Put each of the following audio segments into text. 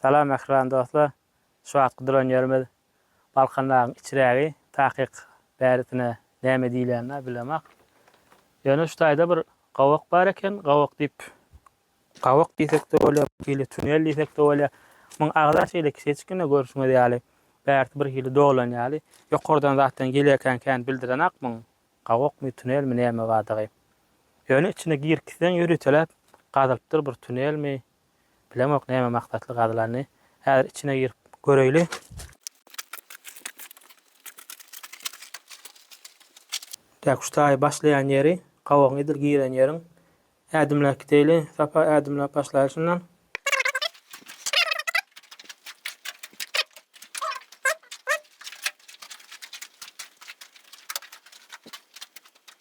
Salam mähriban dostlar! Şu wagtky duran ýerimiz Balkandagyň içrägi, takyk bärisine näme diýilýänini-ä bilemak. Ýöne şu taýda bir gowak bar eken, gowak diýip, gowak diýsek-de bolýar, bir hili tunel diýsek-de bolýar. Muň agza şeýle kiçeçikgina görşüňiz ýaly, bärsi bir hili dolan ýaly. Ýokardan zatlaryň gelýäkenkäni bildirenak muň, gowakmy, tunelmi näme bardygy. Ýöne içine girip gitseň ýöriteläp gazylypdyr bir tunelmi, Bilemok näme maksatly gazylanyny. Häzir içine girip göreýli. Däkuş taýy başlaýan ýeri, gabagyň edil giren ýeriň. Ädimläp gideýli. Sapa ädimläp başlaýly şundan.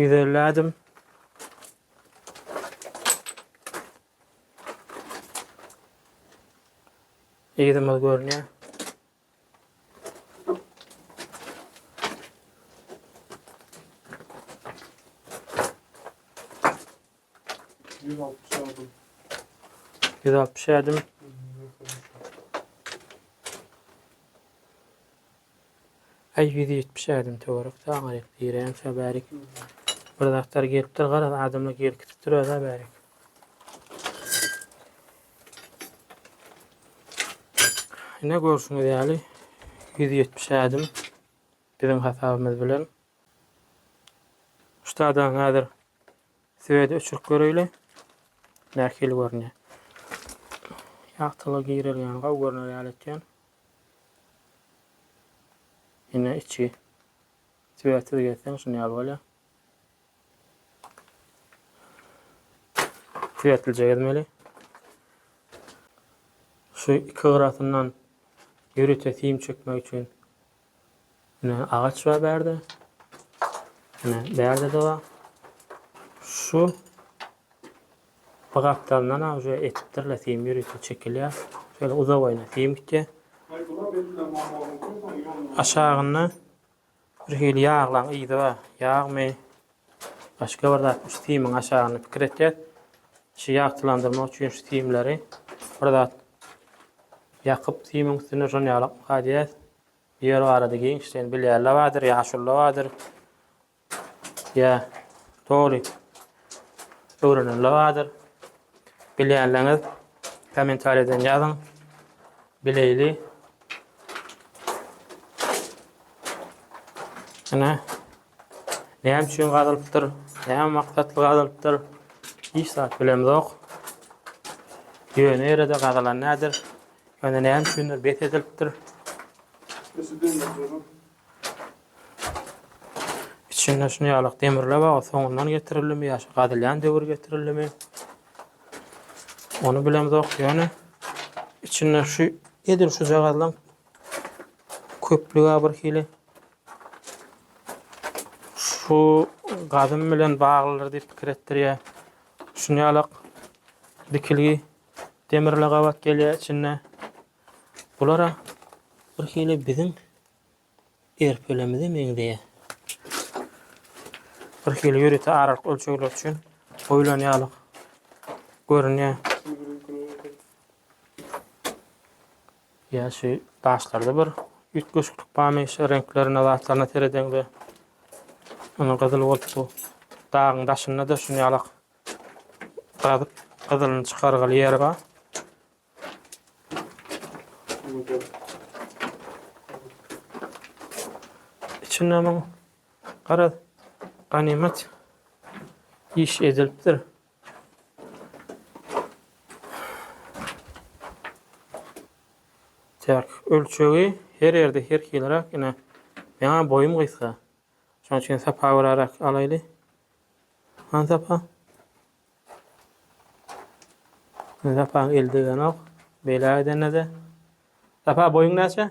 Ýüz elli ädim. Ýerimiz görünýär. Ýüz altmyş ädim. Äý, ýüz ýetmiş ädim töwerek saňa gerek, diýräýemse bärik. Bir zatlar gelipdir, garaz, adamlar gelip gidipdir öz-ä bärik. Ine, görşüňiz ýaly, ýüz ýetmiş ädim biziň hasabymyz bilen. Şu taýdan häzir Swedi öçürip göreýli. Nähili görünýär. Ýagtylygy girelgäni gowy görner ýaly etýän. Ine içi. Swedsiz gezseň şuny ýaly bolýar. Swedlije gezmeli. Şu iki gyrasyndan ýörite sim çekmek üçin Ine agaç bar bärde. Ine bärde de bar. Şu bu gapdalyndan ha şu etipdirler sim ýörite çekilýär. Şöyle uzak oýna sim gitýär. Aşagynda bir hili ýaglaň yzy bar. Ýagmy? Başga bir zat, şu simiň aşagyny pikir etýär. Şu ýagtylandyrmak üçin şu simleri bir zat ýakyp, simiň üstüne şony ýalakmyka diýýär. Bu ýer barada giňişleýin bilýärler bardyr, ýaşulylar bardyr. Ýa doly öwrenenler bardyr. Bilýänleriňiz kommentariýadan ýazyň. Bileýli. Ine. Näme üçin gazylypdyr? Näme maksatly gazylypdyr? Hiç zat bilemzok. Ýöne ýere-de gazylan nädir? Ýöne näme üçindir bes edilipdir. Içinde şuny ýalak demirler bar, soňundan getirildimi ýa şu gazylýan döwür getirildimi? Ony bilemzok, ýöne içinde şu edil şuja gazylan köplüga bir hili Şu gadym bilen baglydyr diýip pikir etdirýär. Şunýalak dikilgi demirle gabat gelýär içinde. Bulara bir hili biziň erpelemize meňzeýär. Bir hili ýörite aralyk ölçegler üçin goýlan ýaly görünýär. Ýa şu daşlarda bir üýtgeşiklik barmy? Şu reňklerine, zatlaryna seredeňde ony gyzyl bolup bu dagyň daşynda-da şuny ýalak gazyp gyzylyny çykargaly ýer bar. Içinde muň garaz ganymat iş edilipdir. Çäk ölçegi her ýerde her hiliräk. Ine, meň boýum gysga. Şonuň üçin sapa göräräk alaýly. Han sapa. Sapanyň eli degenok. Beýläk edende-de. Sapa boýuň näçe?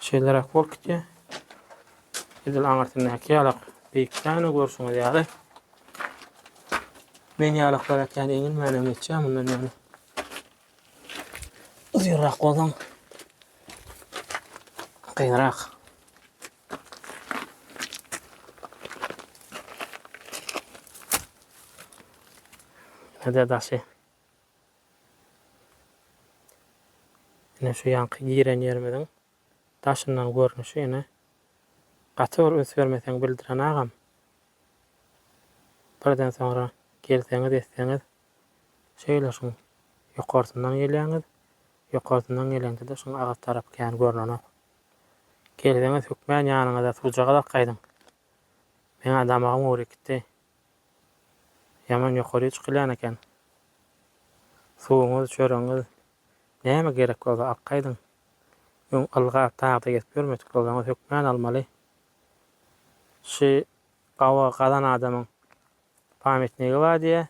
Şeýleräk bolup gitýär. Edil aňyrsyndaky ýalak beýikdäne görşüňiz ýaly. Men ýalaklara kän eňilmänem geçýär mundan ýaňa. Uzynrak bolsaň kynrak. Hede daşy. Ine şu ýaňky giren ýerimiziň daşyndan görnüşi ine gaty bir üns bermeseň bildiren agam. Birden soňra gelseňiz etseňiz şeýle şuň ýokarsyndan gelýäňiz ýokarsyndan geleňde-de şuň agyz tarap kän görnenok. Gelseňiz hökmän ýanyňyza suwjagazak gaýdyň. Meň-ä damagym gury gitdi. Ýaman ýokaryýa çykylýan eken. Suwuňyz, çöregiňiz näme gerek bolsa akgaýdyň. Öň ylga, tagda gezip ýörmedik bolsaňyz hökman almaly. Şy gawa gazan adamyň pamýatnigi bar diýýä.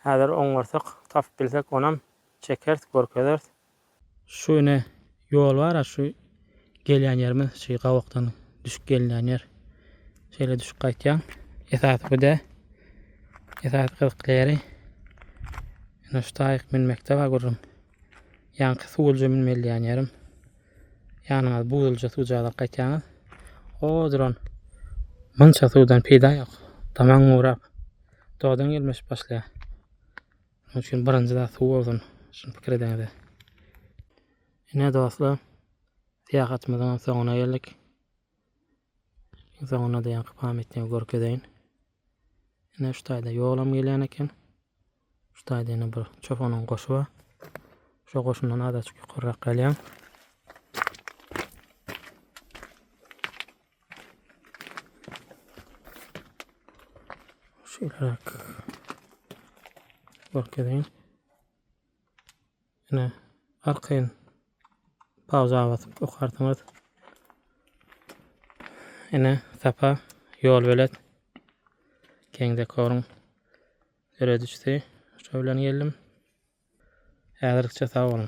Häzir oňarsak tapyp bilsek onam çekeris görkezeris. Şu ine ýol bara şu gelýän ýerimiz şu gawakdan düşüp gelinýän ýer. Şeýle düşüp gaýtýaň. Esasy bu dä. Esasy gyzykly ýeri ine şu taýyk münmekde bar gürrüň. Ýaňky suwulja münmeliýän ýerim. Ýanyňyz buzulja suwjagaz gaýtýaňyz. O duran munça suwdan peýda ýok. Damaň gurap, dodaň ýelmeşip başlaýar. Şonuň üçin birinji zat suw bolsun. Şuny pikir ediňiz. Ine dostlar, syýahatymyzyň soňuna geldik. Soňunda-da ýaňky pamýatnigi görkezeýin. Ine şu taýda ýolam gelýän eken. Şu taýda ýene bir çopanyň goşy bar. Şo goşundan azaçyk ýokarrak galýan. Şeýleräk. Görkezýän. Ýene arkaýyn pauza basyp okarsyňyz. Ene sapa ýol belet. Keň dekoryň Döredijisi şu bilen geldim. Häzirlikçe sag boluň.